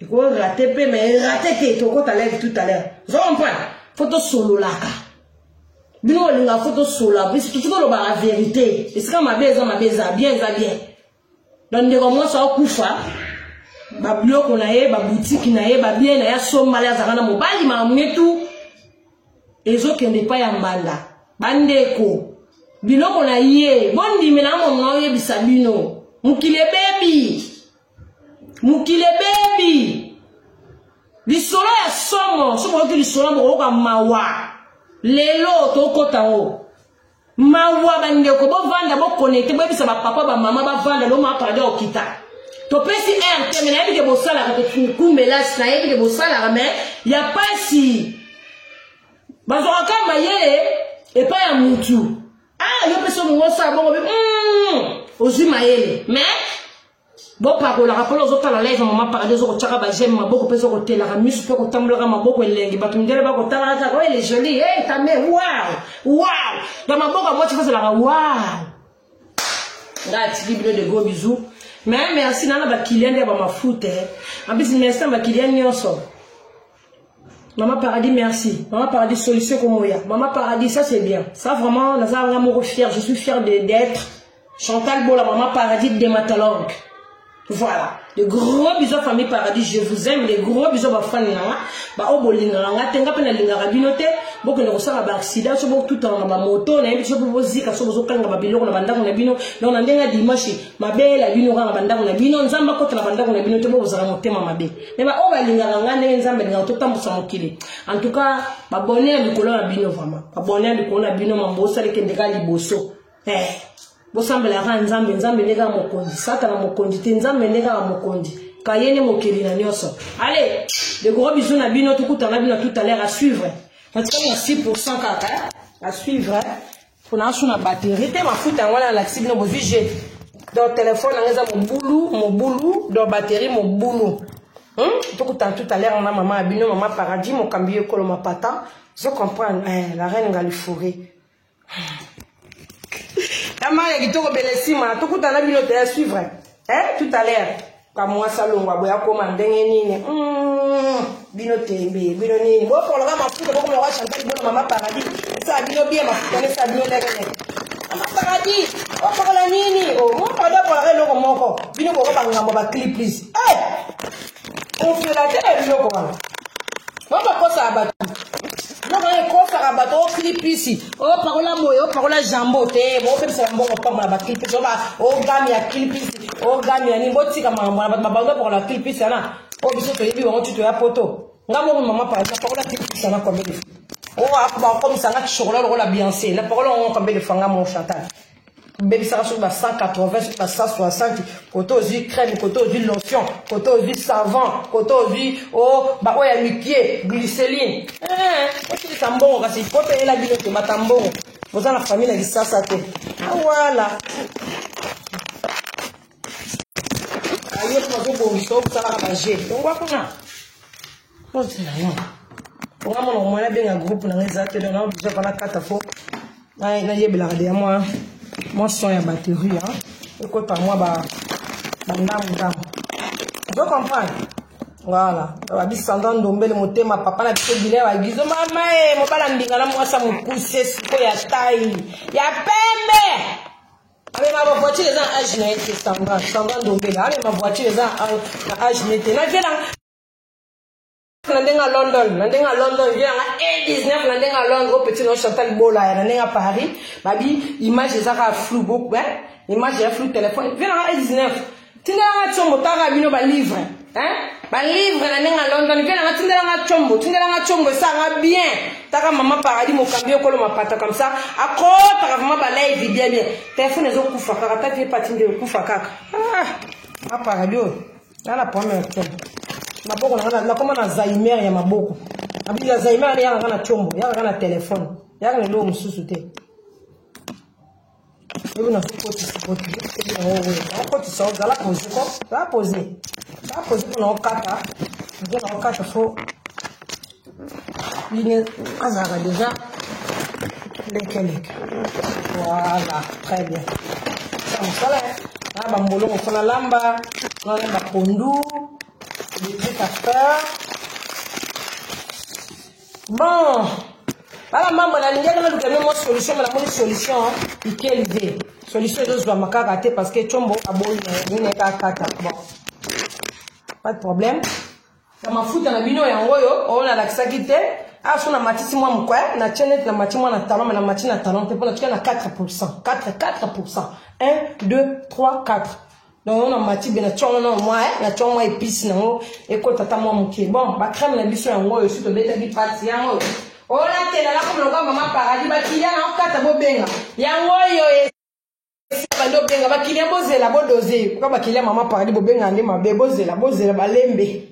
eko rate mpe me rate te tokota live tout à l'heure ozo comprendre fo tosololaka bino bolinga fo tosolola biso totika olobaka verité esika mabe eza mabe eza bien eza bien donc ndeko mwasi aokufa babiloko na ye babutiki na ye babie na ye asombala ye azalaka na mobali mamuetu ezokende epai ya mbanda bandeko biloko na ye bondimela mono oyebisa bino mokili ebebi mokili ebebi lisolo ya somo soki oyoki lisolo ya bokoyoka mawa lelo tokota o mawa bandeko bovanda bokonete boyebisa bapapa bamama bavanda loma pardo okita topesi r te me nayebi ke bosalaka tokumbelasi nayebi ke bosalaka me ya mpasi bazwaka kaka mayele epai ya mutu ah yo mpe soki ngosala bongo bi mm, ozwi mayele mais bopakolaka mpona ozotala live mama paradis ozokotyaka bageme maboko mpe ozokotelaka miso mpe kotambolaka maboko elengi bato mindele bakotalaka kaka oyo ele joli e eh, tame wow wow ya maboko ya mwasi fazelaka wow ngai atiki bino de gros bisou mais merci nana bakilian nde ya bamafuta eh. en plus merci na bakilian nyonso Maman Paradis, merci. Maman Paradis, solution comme moi. Maman Paradis, ça c'est bien. Ça vraiment, nous avons vraiment fier. Je suis fier d'être Chantal Bola, Maman Paradis, de Matalong. Voilà. De gros bisous à famille Paradis, je vous aime. De gros bisous à fan nanga. Ba obo linganga, tenga pena linganga binote. Boko ne kosala ba accident, so boko tout en ba moto, na yebi so boko zika, so boko kanga ba biloko na bandako na bino. Na on a ndenga dimanche, ma belle, bino kanga bandako na bino, nzamba kota na bandako na bino, te boko zala motema mabe. me baoyo balingaka ngai ndenge nzambe alingaka totambwisa mokili en tout cas babone ya likolo na bino vraiment babone ya likolo na bino mambo osali kende kaka liboso eh, bosambela kaka nzambe nzambe nde kaka mokonzi satana mokonzi te nzambe nde kaka mokonzi kaye nde mokeli na nyonso ale dekoro bizu na bino tokutana bino tout à l'heure à suivre natika na 6 pourcent kaka à suivre pona asu na batterie te mafuta yango wana nalakisi bino bozwi je donc telefone yango eza mobulu mobulu donc batterie mobulu hmm? tokutana tout à l'heure na mama ya bino mama paradis mokambi yo ekolo mapata zo comprendre eh, la reine ngalifore ya maya kitoko belesima tokutana bino te ya suivre eh, tout à l'heure kamwasi alongwa boye akoma ndenge nini mm, bino tembe bino nini bopoloka mafuta bokoma kwa chantal bino mama paradis esala bino bie mafuta ne esala bino ndenge nini mama paradis opokola nini mokoda oh, opolaka eloko moko bino boko bangambo bacli plus eh! ofela te na biloko wana babakosa ya bato Noko ye kofaka bato o clipisi o pakola moye o pakola jambo te bopemisa mbongo pamba na ba clipisi oba o game ya clipisi o game ya nini botika makambo na bato babango bapakola clipisi wana o biso toyebi bango ti toya poto nga moko mama pa na pakola clipisi wana combien de fois o akoba okomisa nga chocolat lokola bianse na pakola ngo combien de fois nga mo chantal obebisaka soki ba 180 soki ba 160 kote ozwi crème kote ozwi lotion kote ozwi savant kote ozwi o oh, baoyo ya mikie glyceline eh, osilisa mbongo kasi po peyela bino te mata mbongo boza na famille na lisasa te awala ah, ayo tozobongisa okosalaka baje longwa kuna Poste na yo. Nga mwana mwana abenga groupe na nga eza te donc nao biso kala kata fo nayebelaka deya mwa mwa son ya batterie ekota mwa bandambu ndambu ozo comprendre voilà babisanda ndombele motema papa na biso bile bagizo mama e eh, mobala mbinga na mwasa mokuse siko ya tai ya pembe amema bavoiture eza na age na ye te sanga sanga ndombele amema voiture eza na age na ye te naviela na ndenge ya london na ndenge ya london vie yanga e 19 na ndenge ya londres o petit no chantal bolaya na ndenge ya paris babi image eza kaka flou beaucoup hein image ya flou téléphone vie yanga e 19 tindelanga combo taka bino balivre hein balivre na ndenge ya london vie yanga tindelanga combo tindelanga combo esanga bien taka mama paradis mokambi okolo mapata comme ça akotaka vraiment balaivi bien bien téléphone ezokufa kaka ta vie pati nde okufa kaka ah, aparadis oyo nga na problème ya te maboko na nga nakoma na zaimer ya maboko abila zaimer ne yaka nga na combo yaka nga na telefone yaka na eloko mosusu te lobi nazokotisa okotisa ozala pose ko za pose za pose mpo na okata mpo na okata fo bine azalaka deja lekeleke voilà très bien sa mosala na bambolongo so nalamba nana bapondu des trucs à faire bon bana mambo nalingaki naluka nde mwa solution me namoni solution ikelive solution ezozwama kaka te parce que combo aboyi na ye nini kaka kata bon pas de problème na mafuta na bino yango oyo oyo nalakisaki te awa so namatisi mwa mokwe na tie neti namati mwa na talon me namati na talon te mpo na tika na 4 pourcent 4 4 pourcent 1 2 3 4 donc yango namati be na tia yango na mwa na tia mwa epice nango ekota ata mwa moke bon bacrème na biso yango oyo si tobetaki pati yango oyo oyo natela nakomona kwa mama paradis bakiliya na okata bobenga yango oyo bande obenga bakilia bozela bodose mpoka bakilia mama paradis bobenga nde mabe bozela bozela balembe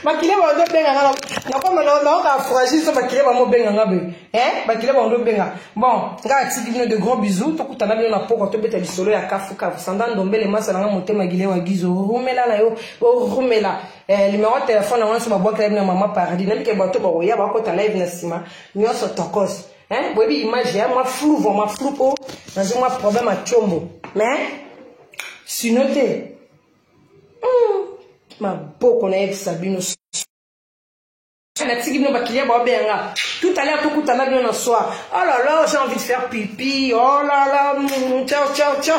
bakilia bande obenga nga nakoma naoka fragile so bakilia bango obenga nga boye e bakilia bande obenga bon nga atiki bino de grand bisou tokutana bino na pokwa tobeta lisolo ya kafukafu sanda ndombele masala nga motema gile wa gizo rumela na yo orumela limero eh, telefone yango nyonso babwakela bino ya mama paradis nabike bato bakoya bakota live na nsima nyonso tokos Hein? Boyebi image ya mwa flou vraiment flou po nazo mwa problème à chombo. Mais sino te. Hmm. Maboko na yebisa bino natiki bino bakiliya baobeya nga tout à l'heure tokutana bino na soir oh là là j'ai envie de faire pipi oh là là ciao ciao ciao